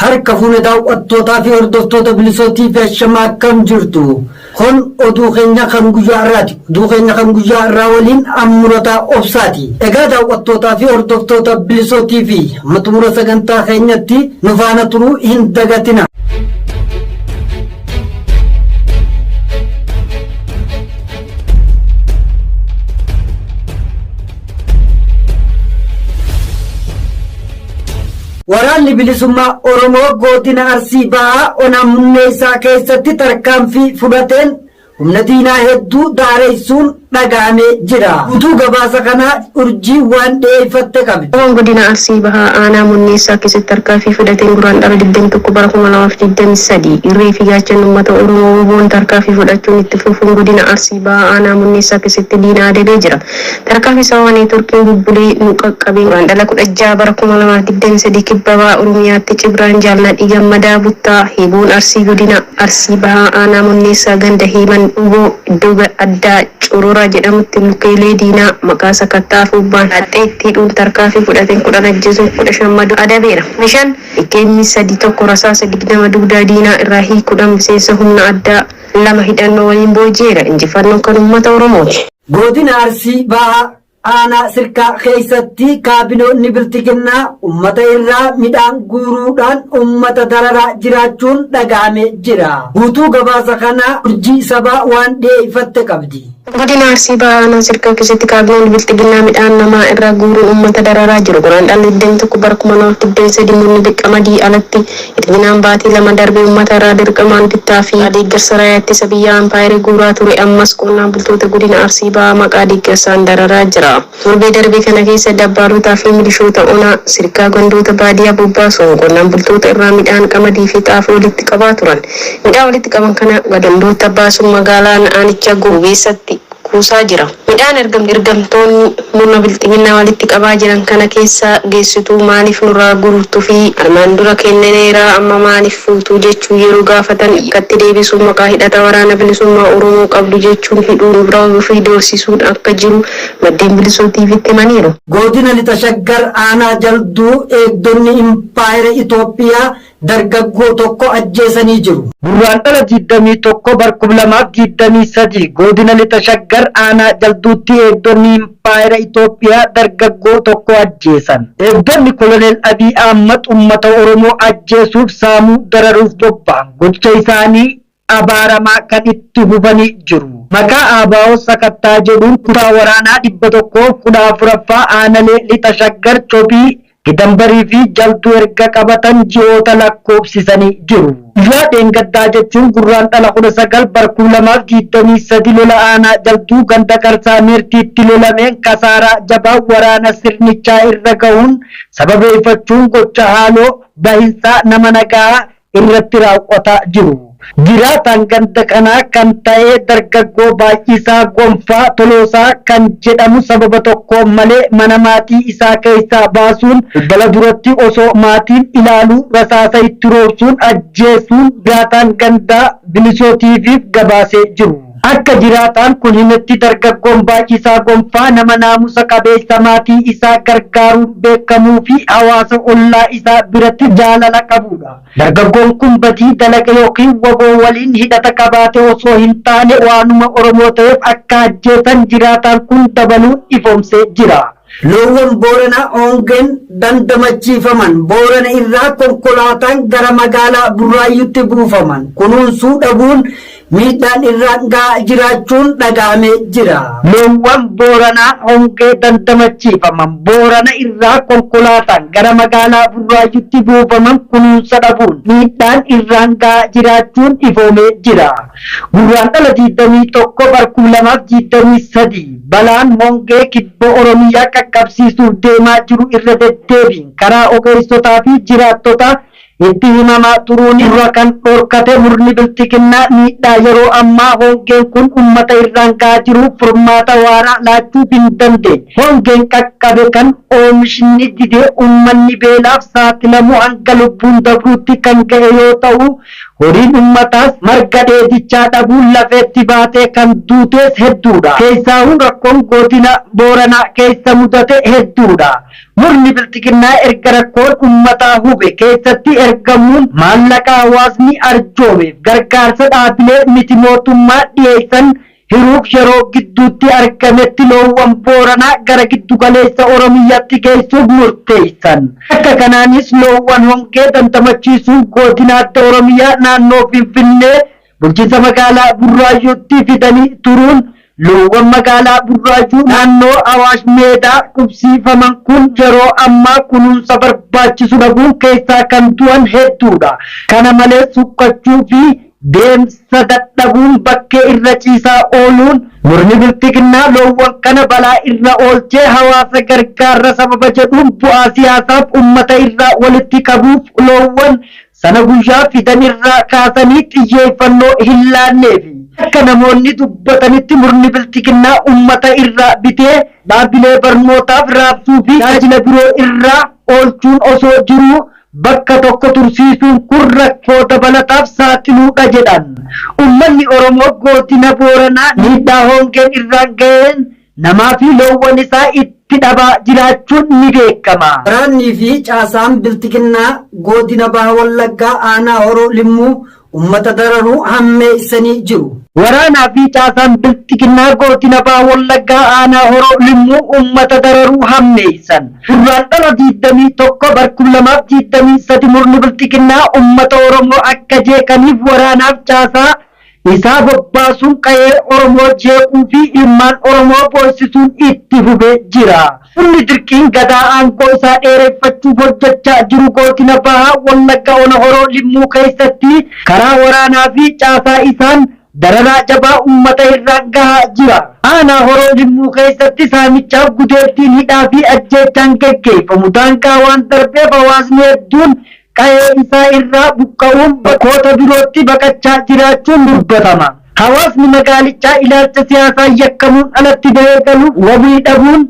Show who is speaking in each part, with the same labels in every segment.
Speaker 1: harka fuune daawwattootaa fi hordoftoota bilisootii fi ashamaa akkam jirtu kun oduu keenya kan guyyaa irraati oduu keenya kan guyyaa irraa waliin ammurotaa obsaati egaa daawwattootaa fi hordoftoota bilisootii fi amma xumura sagantaa keenyatti nu faana turuu hin dagatina. Waraanni bilisummaa Oromoo godina Arsii Bahaa ona Munneessaa keessatti tarkaanfii fudhateen humna diinaa hedduu daareessuun dhaga'amee jira. Utuu gabaasa kanaa urjii waan dhiyeeffatte qabdi. Wboon godina Arsii Bahaa
Speaker 2: aanaa Munneessaa keessatti tarkaanfii fudhateen Guraandhala 21 bara 2023 irree fi gaachanni uummata Oromoo wboon tarkaanfii fudhachuun itti fufuun godina Arsii Bahaa aanaa Munneessaa keessatti diina adabee jira. Tarkaanfii sababa neetworkiin bubbulee nu qaqqabeen Guraandhala 16 bara 2023 Kibba Baha Oromiyaatti Cibraan Jaal Nadhii Gammadaa Buttaa Hiiboon Arsii Godina Arsii Bahaa Aanaa Monneessaa Ganda Heeman Dhugoo iddoo addaa Corora jedhamutti lukeelee diinaa maqaa sakatta'a Fuubbaan Haxxeetti hidhuun tarkaanfii fudhateen 10 ajjeesuun 15 madoon adabeera. 15, akm 3 1 Rasaasa 20 dugdaa diinaa irraa hiikuudhaan miseensa humna addaa 2 hidhannoo waliin booji'eera. Injifannoon kan uummata Oromooti! Godina Arsii
Speaker 1: Bahaa Aanaa Sirkaa keessatti kaabinoonni Bilxiginnaa ummata irraa midhaan guuruudhaan ummata dararaa jiraachuun dhaga'amee jira. Guutuu gabaasa kanaa Urjii Sabaa waan dhiyeeffatte qabdi. Godina Arsii Bahaa
Speaker 2: Aanaa Sirkaa keessatti kaabinoonni Bilxiginnaa midhaan namaa irraa guuruun ummata dararaa jiru. Guraandhala 21 bara 2023 murni Qamadii alatti Bilxiginaan baatii lama darbe ummata irraa dirqamaan bittaa fi deeggarsa Raayyaa Ittisa Biyyaa Ampaayeri guuraa ture ammas qonnaan bultoota godina Arsii Bahaa maqaa deeggarsaan dararaa jira. Torbee darbe kana keessa dabbaallotaa fi milishoota ona Sirkaa gandoota baadiyaa bobbaasuun qonnaan bultoota irraa midhaan qamadii fi xaafii walitti qabaa turan. Midhaan walitti qaban kana gadandootta baasuun magaalaan aanichaa Goobeessatti. kuusaa jira. Midhaan erga ergamtoonni murna bilxiginnaa walitti qabaa jiran kana keessa geessituu maaliif nurraa guurtu fi armaan dura kennineera amma maaliif fuutu jechuun yeroo gaafatan akkatti deebisuun maqaa hidhata waraana bilisummaa Oromoo qabdu jechuun hidhuun reebuu fi doorsisuun akka jiru maddeen Bilisuu TVtti himaniiru. Godina Lixa
Speaker 1: Shaggar Aanaa Jalduu eegdonni Impaayera Itoophiyaa dargaggoo tokko ajjeesanii jiru. Gurraandhala 21 bar 2023 Goodina Lixa Shaggar Aanaa Jalduutti eegdonni Impaayera Itoophiyaa dargaggoo tokko ajjeesan. Eegdonni Koloneel Abiy Ahmad uummata Oromoo ajjeesuuf, saamuu, dararuuf bobba'an gocha isaanii abaaramaa kan itti fufanii jiru. Maqaa ABO sakattaa jedhuun kutaa waraanaa 114ffaa aanalee Lixa Shaggar, Cophii, Gidanbarii fi Jaltuu erga qabatan ji'oota lakkoofsisanii jiru. Guyyaa dheengaddaa jechuun Gurraandhala 19 bar 2023 lola aanaa Jaltuu ganda Qarsaa Meertiitti lolameen kasaaraa jabaa waraana sirnichaa irra gahuun sababeeffachuun gocha haaloo bahinsaa nama nagahaa irratti raawwataa jiru. Jiraataan ganda kanaa kan ta'e dargaggoo Baay'isaa Gonfaa Toloosaa kan jedhamu sababa tokko malee mana maatii isaa keessaa baasuun balbala duratti osoo maatiin ilaaluu rasaasa itti roobsuun ajjeesuun jiraataan gandaa Bilisoo TV'f gabaasee jiru. Akka jiraataan kun himetti dargaggoon Baay'isaa Gonfaa nama naamusa qabeessa maatii isaa gargaaruun beekamuu fi hawaasa ollaa isaa biratti jaalala qabuudha. Dargaggoon kun badii dalaga ykn wbo waliin hidhata qabaate osoo hin taane waanuma Oromoo ta'eef akka ajjeesan jiraataan kun dabaluun ifoomsee jira. Loowwan Booranaa hongeen dandamachiifaman Boorana irraa konkolaataan gara magaalaa Burraayyuutti buufaman kunuunsuu dhabuun miidhaan irraan gahaa jiraachuun dhagahamee jira. Loowwan Booranaa hongee dandamachiifaman Boorana irraa konkolaataan gara magaalaa Burraayyuutti buufaman kunuunsa dhabuun miidhaan irraan gahaa jiraachuun ifoomee jira. Gurraandhala 21 bar 2023 balaan hongee kibba Oromiyaa qaqqabsiisuuf deemaa jiru irra deddeebiin karaa ogeessotaa fi jiraattotaa itti himamaa turuun irra kan dhorkate murni bilxiginnaa miidhaa yeroo ammaa hongeen kun ummata irraan gahaa jiruuf furmaata waaraa laachuuf hin dandeenye. Hongeen qaqqabe kan oomishni didee ummanni beelaaf saaxilamu hanga lubbuun dabruutti kan gahe yoo ta'u, Horiin ummataas marga dheedichaa dhabuun lafeetti baatee kan duutees hedduudha. Keessaahuu rakkoon Godina Booranaa keessa mudate hedduudha. Murni Bilxiginnaa erga rakkoon ummataa hube keessatti ergamuun maallaqa hawaasni arjoomeef gargaarsa dhaabilee miti-mootummaa dhiyeessan Hiruuf yeroo gidduutti argametti loowwan Booranaa gara giddugaleessa Oromiyyatti geessuuf murteessan. Akka kanaanis loowwan hongee dandamachiisuuf Goodina Adda Oromiyaa naannoo Finfinnee bulchiinsa magaalaa Burraayyuutti fidanii turuun loowwan magaalaa Burraayyuu naannoo Awaash Meedaa qubsiifaman kun yeroo ammaa kunuunsa barbaachisu dhabuun keessaa kan du'an hedduudha. Kana malees huqqachuu fi Deemsa dadhabuun bakkee irra ciisaa ooluun murni bilxiginnaa loowwan kana balaa irra oolchee hawaasa gargaarra sababa jedhuun bu'aa siyaasaaf ummata irraa walitti qabuuf loowwan Sana guyyaa fidan irraa kaasanii xiyyeeffannoo hin laanneefi. Akka namoonni dubbatanitti murni bilxiginnaa ummata irraa bitee dhaabbilee barnootaaf raabsuu fi tajaajila biroo irraa oolchuun osoo jiruu bakka tokko tursiisuun kun rakkoo dabalataaf saaxiluudha jedhan. Ummanni Oromoo Goodina Booranaa miidhaa hoongeen irraan gaheen namaa fi loowwan isaa itti dhabaa jiraachuun ni beekama. Waraannii fi
Speaker 3: caasaan Bilxiginnaa Goodina Baha Wallaggaa Aanaa Horoo Limmuu ummata dararuu hammeessanii jiru. Waraanaa fi
Speaker 1: caasaan Bilxiginnaa Goodina Baha Wallaggaa Aanaa Horoo Limmuu ummata dararuu hammeessan. Gurraandhala 21 bar 2023 murni Bilxiginnaa ummata Oromoo akka jeeqaniif waraanaaf caasaa isaa bobbaasuun qayee Oromoo jeequu fi ilmaan Oromoo boossisuun itti fufee jira. Sirni dirqiin Gadaa aangoo isaa dheereffachuuf hojjechaa jiru Gootina Baha Wallagga Ona Horoo Limmuu keessatti karaa waraanaa fi caasaa isaan dararaa jabaa uummata irraan gahaa jira. Aanaa Horoo Limmuu keessatti saamichaaf gudeeddiin hidhaa fi ajjeechaan geggeeffamu daangaa waan darbeef hawaasni hedduun qa'ee isaa irraa buqqa'uun bakkoota birootti baqachaa jiraachuun dubbatama. Hawaasni magaalichaa ilaalcha siyaasaan yakkamuun alatti bahee galuuf wabii dhabuun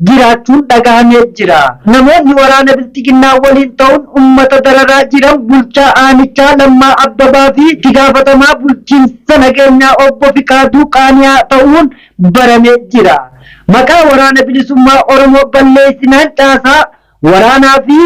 Speaker 1: jiraachuun dhagahamee jira. Namoonni waraana bilxiginnaa waliin ta'uun ummata dararaa jiran bulchaa aanichaa Lammaa Abbabaa fi itti gaafatamaa bulchiinsa nageenyaa obbo Fiqaaduu Qaani'aa ta'uun baramee jira. Maqaa Waraana Bilisummaa Oromoo balleessinaan caasaa waraanaa fi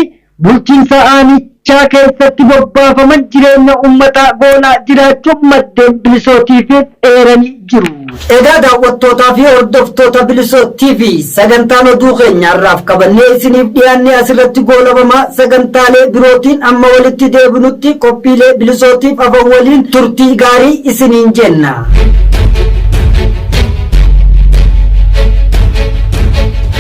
Speaker 1: Bulchiinsa aanichaa keessatti bobbaafaman jireenya uummataa goolaa jiraachuu maddeen Bilisoo TV'f eeranii jiru. Egaa daawwattootaa
Speaker 3: fi hordoftoota Bilisoo TV sagantaan oduu keenya har'aaf qabannee isiniif dhiyaanne asirratti goolabama sagantaalee birootiin amma walitti deebinutti qophiilee Bilisootiif afan waliin turtii gaarii isiniin jenna.